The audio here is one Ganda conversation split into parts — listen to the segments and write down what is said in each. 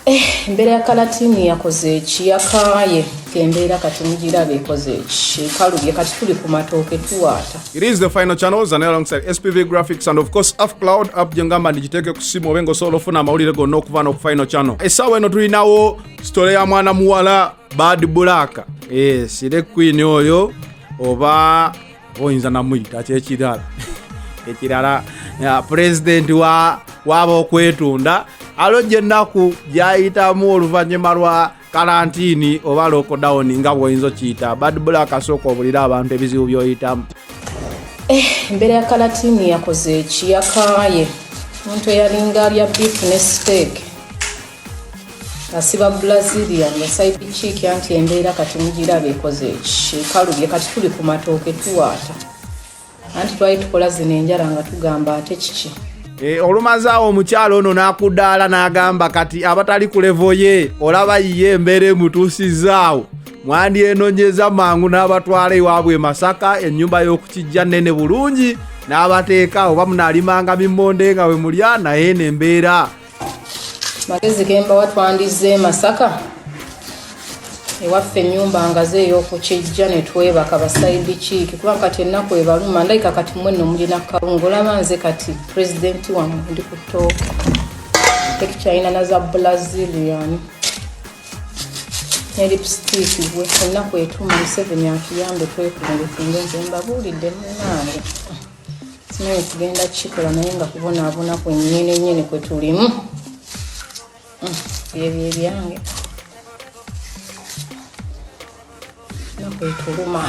Eh, embeera ya kalatini yakoze eki yakaaye kembeera kati mugiraba ekoze eki ekalubye kati tuli ku matooke tuwaata it is the final channels and alongside spv graphics and of course af cloud app gyengamba ndigiteeke ku simu obe ngaosobola ofuna amawulire gonna okuva noku final channel essaawa eno tulinawo sitole ya mwana muwala bad black yes ire queen oyo oba oyinza namuyita kyekirala ekirala pulezidenti waaba okwetunda alojja ennaku gyayitamu oluvannyuma lwa kalantiini oba lokodawuni nga bwoyinza okiyita badbula akasooka obulira abantu ebizibu byoyitamu eh, embeera ya kalatini yakoze ekiyakaaye omuntu eyalinga alya bifu ne siteeke asiba bulaziria nga saipikiiki anti embeera kati mugiraba ekoze ekikalubye kati tuli ku matooke tuwaata anti twali tukola zino enjala nga tugamba ate kiki eh, olumazaawo omukyalo ono n'akudaala n'agamba kati abatali ku levo ye olaba yiye embeera emutuusizaawo mwandyenonyeza mangu n'abatwala ewaabwe e masaka ennyumba y'okukijja nnene bulungi n'abateeka oba munalimanga mimmonde nga we mulya naye n'embeera magezi gembawa twandizze e masaka ewaffe enyumba ngaze eyokukijja netwebaka basaidi kiiki kuba kati ennaku ebaluma ndayika kati mwene omulina kawunga olaba nze kati pulezidenti wamwe ndi kutooka tekikyalina naza brazilian ne lipstiiki gwe ennaku etuma museveni atuyambe twekunge kunge nze mbabuulidde munange naye tugenda kukikola naye nga kubonaabona kwenyini nyini kwe tulimu mm, byebyo ebyange nakwetuluma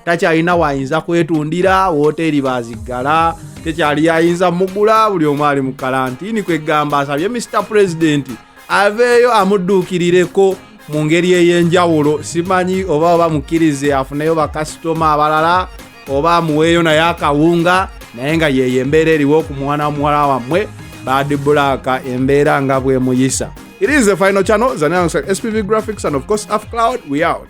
takyalina waayinza kwetundira wooteeri baziggala tekyali yayinza mugula buli omu ali mu kalantiini kwegamba asabye mr pulezidenti aveeyo amudduukirireko mu ngeri ey'enjawulo simanyi oba oba mukkirize afuneyo bakasitoma abalala oba amuweeyo naye akawunga naye nga yeeyo embeera eriwo ku mwana wa muwala wammwe bad black embeera nga bwemuyisa it is the final channel zanaa spv graphics and of course af cloud we out